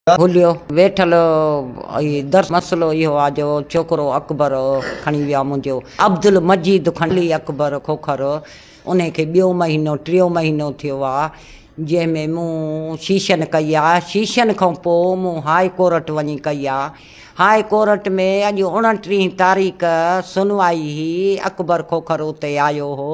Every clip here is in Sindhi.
هليو ويٺل اي درس مسئلو اهو آ جو ڇوڪرو اڪبر کڻي ويا منهنجو عبدالمجيد کڻي اڪبر کوکر انهي کي ٻيو مهينو ٽيون مهينو ٿيو آ جنهن ۾ مون شيشن ڪئي آ شيشن کان پو مون هاء ڪورٽ وڃي ڪئي آ هاء ڪورٽ ۾ اڄ اوڻٽيهين تاريخ سنوائي هي اڪبر کوکر اتي آيو هو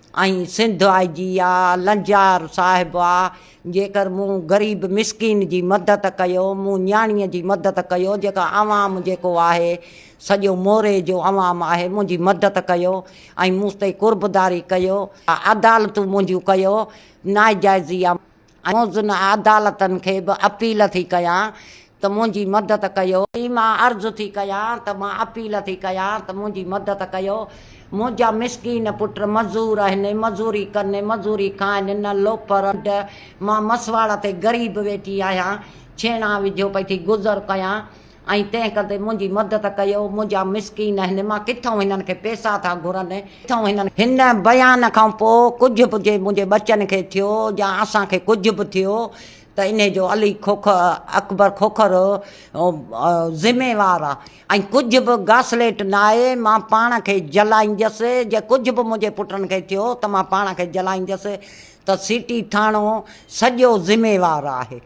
۽ سنڌ آء جي آء لنجار صاحب آء جيڪر مون غريب مسڪين جي مدد ڪيو مون نياڻي جي مدد ڪيو جيڪا عوام جيڪو آهي سڄو موري جو عوام آهي منهنجي مدد ڪيو ۽ مون تي قربداري ڪيو عدالتون منهنجون ڪيو ناجائزي آء موزون عدالتن کي به اپيل ٿي ڪيان ته منهنجي مدد ڪيو. ٿي مان عرض ٿي ڪيان ته مان اپيل ٿي ڪيان ته منهنجي مدد ڪيو. منهنجا مسڪين پٽ مزور آهن، مزوري ڪن، مزوري کائن، نه لوفر، نه ڍنڍ. مان مسواڙ تي غريب ويٺي آهيان، ڇيڻا وجهيو پئي ٿي گذر ڪيان. ۽ تنهن ڪندي منهنجي مدد ڪيو، منهنجا مسڪين آهن، مان ڪٿئون هنن کي پيسا ٿا گهرن. هن بيان کان پوء ڪجهه به جي منهنجي ٻچن کي ٿيو يا اسان کي ڪجهه به ٿيو ته انهي جو علي کوکر، اڪبر کوکر، ذميوار آ ۽ ڪجهه به گاسليٽ ناهي، مان پاڻ کي جلائينديس، جي ڪجهه به منهنجي پٽن کي ٿيو ته مان پاڻ کي جلائينديس ته سٽي ٿاڻو سڄو ذميوار آهي.